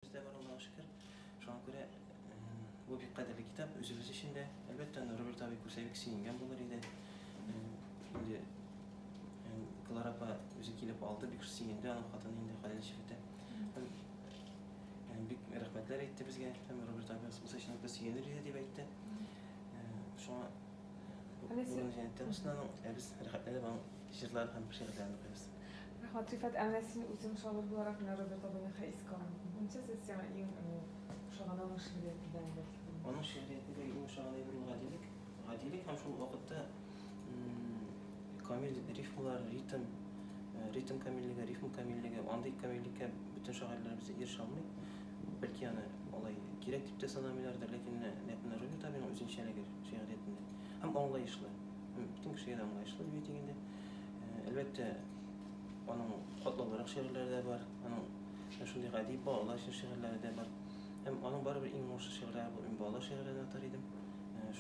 Бездә бар Аллага шөкер. Шуңа күрә бу бик кадерле китап үзебез өчен дә. Әлбәттә, аны Роберт абый күрсә бик сөенгән булыр иде. Инде Клара апа үзе килеп алды, бик сөенде, аның хатыны инде хәләл җирдә. Бик рәхмәтләр әйтте безгә, һәм Роберт абый булса өчен бик сөенер иде дип әйтте. Шуңа Алисе. Ә без рәхәтләнеп аның Җырлар һәм шигырьләрен укыйбыз. Рәхмәт, Рифат. Ә менә син үзең шагыйрь буларак менә Роберт абыйны хәй искә алу буенча сез сиңа иң ошаганы аның шигърияте белән бәлки бүленеп. Аның шигъриятендә иң ошаган әйбер ул гадилек. Гадилек һәм шул ук вакытта камил рифмалар, ритм, ритм камиллеге, рифм камиллеге. Андый камиллеккә бөтен шагыйрьләребез дә ирешә алмый. Бәлки аны алай кирәк дип тә санамыйлардыр, ләкин менә ләкин Роберт абыйның үзенчәлеге шигъриятендә һәм аңлаешлы. Бөтен кеше генә аңлаешлы дип әйтик инде. Әлбәттә, аның катлаулырак шигырьләре дә бар, аның шундый гади балалар өчен шигырьләре дә бар. Һәм аның барыбер иң уңышлы шигырьләре бу. Мин балалар шигырьләрен атар идем.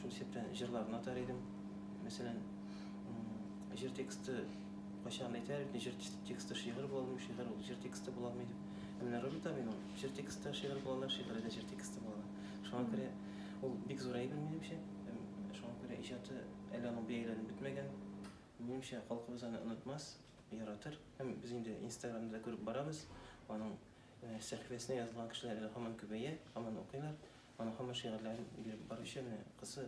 Шул исәптән җырларын атар идем. Мәсәлән, җыр тексты кайчан әйтәр бит, җыр тексты шигырь була алмый, шигырь ул җыр тексты була алмый дип. Ә менә Роберт Аминның җыр тексты шигырь була ала, шигыре дә җыр тексты була ала. Шуңа күрә ул бик зурая белми, минемчә. Һәм шуңа күрә иҗаты әле аның бәяләнеп бетмәгән. Минемчә, халкыбыз аны онытмас, яратыр. Һәм без инде Инстаграмда да күреп барабыз, аның сәхифәсенә язылган кешеләр әле һаман күбәя, һаман укыйлар. Аның һаман шигырьләрен биреп баручы менә кызы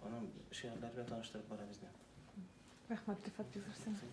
аның шигырьләре белән таныштырып бара безне. Рәхмәт, Рифат, бик зур сиңа.